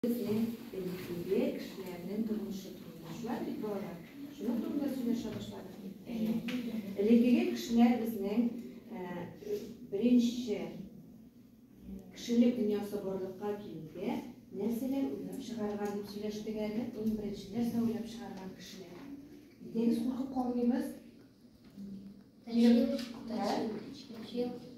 Безнең элеккеге кешеләрнең тормышы турында. Шулай бит, балалар? Шуның турында сөйләшә башладык бит. Элеккеге кешеләр безнең беренче кешелек дөньясы барлыкка килде. Нәрсәләр уйлап чыгарган дип сөйләштек әле. Иң беренче нәрсә уйлап чыгарган кешеләр. Дигез куркып калмыйбыз. Тәшвиш, тәшвиш.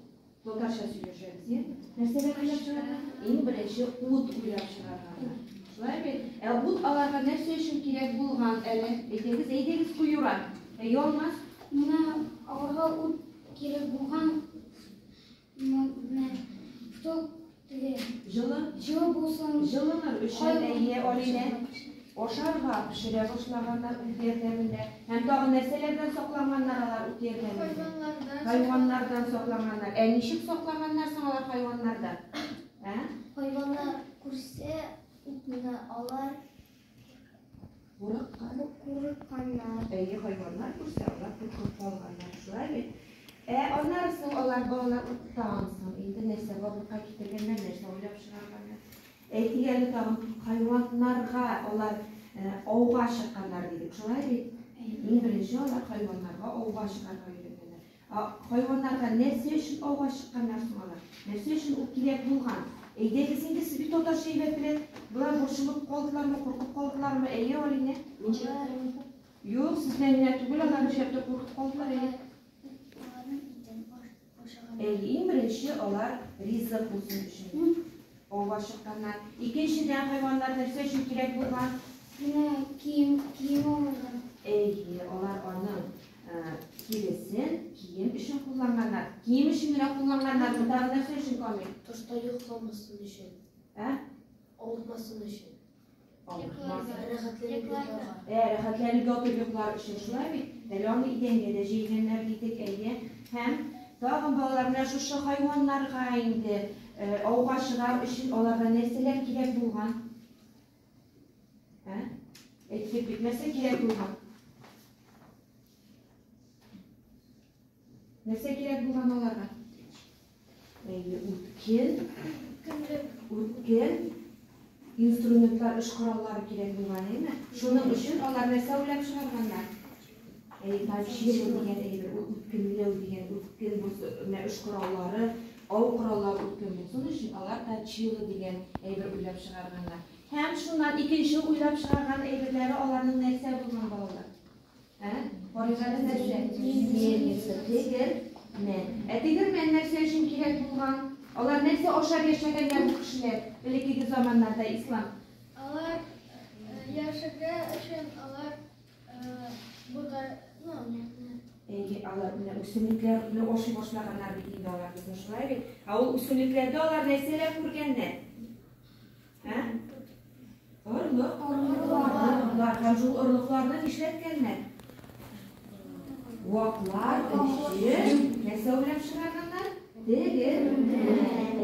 Татарча сөйләшәбез, я? Нәрсәләр уйлап чыгарга? Иң беренче ут уйлап чыгарга. Шулай бит? Ә ут аларга нәрсә өчен кирәк булган әле? Әйтегез, әйдәгез, куюра. Ә ялмас? Менә аларга ут кирәк булган, менә ток Җылы? Җылы булсын. Җылымы? Өчен әйе, Алинә. Ашарга, пешерә башлаганнар үз ярдәмендә. Һәм тагын нәрсәләрдән сакланганнар алар үз ярдәмендә? Хайваннардан. Хайваннардан сакланганнар. Ә ничек сакланганнар соң алар хайваннардан? Ә? Хайваннар күрсә, утны алар. Курыкканнар, әйе, хайваннар күрсә, алар куркып калганнар, шулай бит? Ә аннары соң алар балалар тагын соң инде нәрсә барлыкка китергәннәр, нәрсә уйлап чыгарганнар. Әйтик әле тагын хайваннарга алар ауга чыкканнар дидек, шулай бит? Иң беренче алар хайваннарга ауга чыгарга Ә хайваннарга нәрсә өчен ауга чыкканнар соң алар? Нәрсә өчен ул кирәк булган? Әйдәгез инде, сез бит татарча әйбәтрәк. Болар борчылып калдылармы, куркып калдылармы, әйе, Алинә? Юк, сездән генә түгел, алар нишләп тә куркып калдылар, әйе. Әйе, иң беренче алар ризык булсын өчен. Авга чыкканнар. Икенчедән, хайваннар нәрсә өчен кирәк булган? Менә кием, кием алырга. Әйе, алар аның тиресен кием өчен кулланганнар. Кием өчен генә кулланганнар. Тагы нәрсә өчен, Камил? Тышта йокламасын өчен. Ә? Авырмасын өчен. Йокларга. Рәхәтләнеп йокларга. Ә, рәхәтләнеп ятып йоклар өчен, шулай бит? Әле аны идәнгә дә җәйгәннәр дидек, әйе. Һәм тагын, балалар, менә шушы хайваннарга инде ауга чыгар өчен аларга нәрсәләр кирәк булган? Ә? Әйттек бит, нәрсә кирәк булган? Нәрсә кирәк булган аларга? Әйе, үткен, үткен, инструментлар, эш кораллары кирәк булган, әйме? Шуның өчен алар нәрсә уйлап чыгарганнар? Әйе, тачило дигән әйбер, ул үткенләү дигән, үткен булсын, эш кораллары, ау кораллары үткен булсын өчен алар тачило дигән әйбер уйлап чыгарганнар. Һәм шуннан икенче уйлап чыгарган әйберләре аларның нәрсә булган балалар? Карыйганы нәрсә? Мельница, тегермән. Ә тегермән нәрсә өчен кирәк булган? Алар нәрсә ашап яшәгәннәр бу кешеләр? Элеккеге заманнарда ислам. Алар яшәгә өчен алар будай, ну, Әйе, алар менә үсемлекләрне ашый башлаганнар бит инде алар безне шулай бит. Ә ул үсемлекләрдә алар нәрсәләр күргәннәр? Ә? Орлык, орлыклар, орлыклар. Һәм шул орлыкларны нишләткәннәр? Ваклар, өче, нәрсә уйлап чыгарганнар? Теге.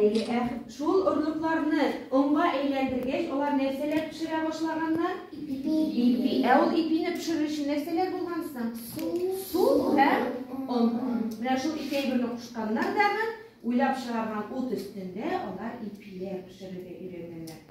Ә шул орлыкларны онга әйләндергәч, алар нәрсәләр пешерә башлаганнар? Ипи. Ипи. Ә ул ипине пешерү өчен нәрсәләр булган соң? Су. Су һәм он. Менә шул ике әйберне кушканнар дағы Уйлап чыгарган ут өстендә алар ипиләр пешерергә өйрәнгәннәр.